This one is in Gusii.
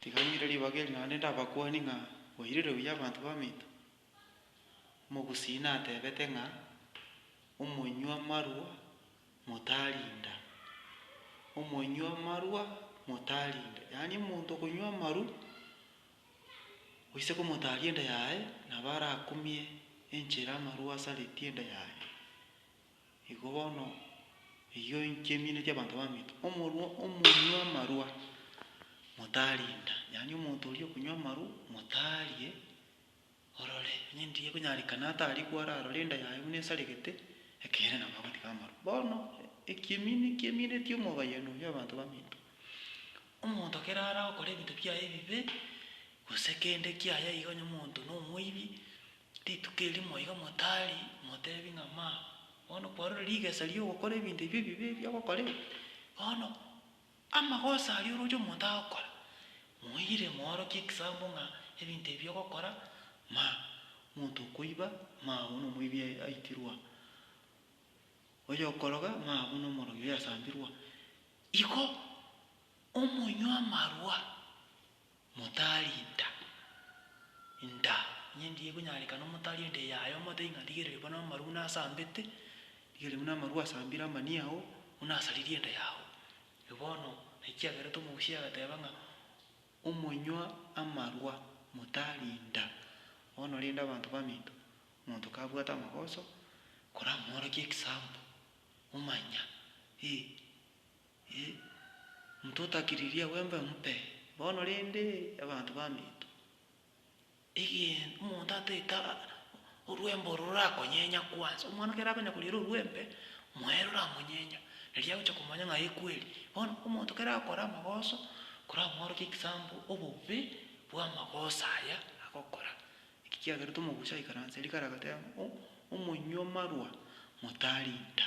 Tiga ng'ire ribaga eri naende ndabakwanie ng'a boirire buya abanto b'aminto. Omogusii natebete ng'a omonywa marwa motarinda, omonywa marwa motarinda, yaani omonto okonywa amaru oise komotaria enda yaye nabo arakumie enchera amarwa asaretie enda yaye. Igo bono, eyio inche emino y'abanto abaminto, omorua omonywa amarwa motarinda, yaani omonto oria okonywa amarwa motarie, orore onye ndiye konyarekana atari kwararore enda yaye buna esaregete, ekeene nabo agotiga amarwa. Bono ekiemino ekiemineti omobayani oyio abanto baminto, omonto kere aragokora ebinto biaye ebibe, gose kende kiaye iga onye omonto na omoibi, Rituko erimo iga motari motebi ng'a maa, bono kwarorire rigesa ri'ogokora ebinto ebi ebibe ebi ogokorire, bono amagoso aria oroche omonto agokora, moire moorokie ekisambo ng'a ebinto ebi ogokora maa, omonto okoiba maa buna omoibi ai- aitirwe aa, oyokoroga maa buna omorogi oyasambirwe aa. Igo omonywa amarwa Motarinda inda, inye ndiye ekonyarekana omotarie inda eye aye omote ng'a rigereria bono amaru buna asambete, rigereria buna amaru asambire amani ao, buna asaririe inda yao. Eri bono naki kiagerete omogusii agateba ng'a omonywa amarwa motarinda. Bono rende abanto baminto, omonto kabwate amagoso, koramworokie ekisambu, omanya, eeh. Ee, omonto otakiririe agwembe omope bono rende abanto baminto. Egento omonto ataete orwembe oro rorakonyenya kwansa, omwana ekero akonya koriera orwembe, moe roramonyenya, nari agocha komanya ng'a ee kweri. Bono omonto ekero akore amagoso, koramworokie example obobe bw'amagoso aya agokora. Eki kiagerete omogusi aikaranse rikaro agateba ng'a omonywa marwa motarinda.